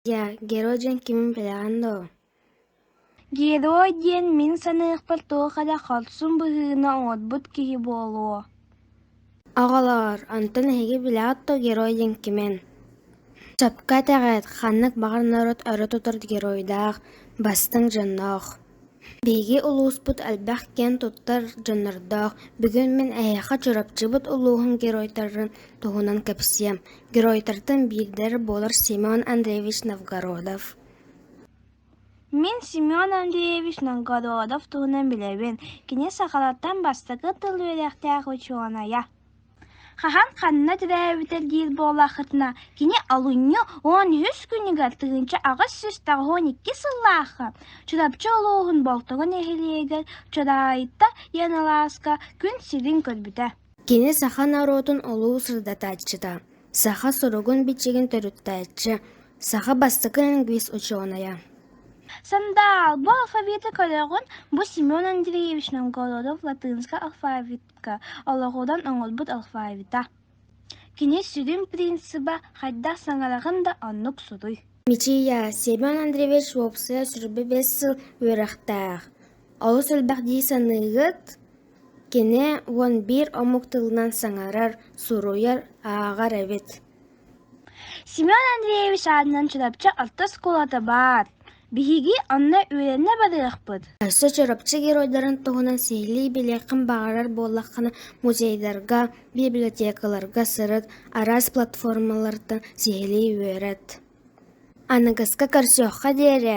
Дьэ, Герой диэн кимин билэҕин доо? Герой диэн мин саныахпар туох эрэ хорсун быһыыны оҥорбут киһи буолуо Оҕолоор, онтон эһиги билэҕит дуо герой диэн кимин? Сөпкө этэҕит, ханнык баҕар норуот өрө тутар геройдаах, бастыҥ дьонноох. Биһиги улууспут элбэх киэн туттар дьоннордоох. Бүгүн мин эһиэхэ Чурапчыбыт улууһун геройдарын туһунан кэпсиэм. Геройдартан биирдэр буолар Семен Андреевич Новгородов. Мин Семен Андреевич Новгородов туһунан билэбин, кини сахалартан бастакы тыл үөрэхтээх учуонайа. Хаһан ханна төрөөбүтэ диир буоллаххытына, кини алынньы уон үһүс күнүгэр тыһыынча аҕыс сүүс аҕыһын икки сыллаахха Чурапчы улууһун Болтоҕо нэһилиэгэр Чураайта Яналааска күн сирин көрбүтэ. Кини саха норуотун олуу сырдатааччыта. Саха суругун-бичигин төрүттээччи, саха бастакы лингвист-учуонайа. Сандаал бу алфавиты көрөҕүн? Бу Семен Андреевич Новгородов латынскай алфавитка олоҕуран оҥорбут алфавита. Кини сүрүн принципа хайдах саҥараҕын да оннук суруй. Мичийя Семен Андреевич уопсайа суруйба бэс сыл үөрэхтээх. Олус элбэх дии саныыгыт? Кини уон биир омук тылынан саҥарар, суруйар, ааҕар эбит Семен Андреевич аатынан Чурапчы орто оскуолата баар. Биһиги онно үөрэнэ барыахпыт. Өссө Чурапчы геройдарын туһунан сиһилии билиэххин баҕарар буоллаххына, музейдарга, библиотекаларга сырыт, араас платформалартан сиһилии үөрэт. Аныгыска көрсүөххэ диэри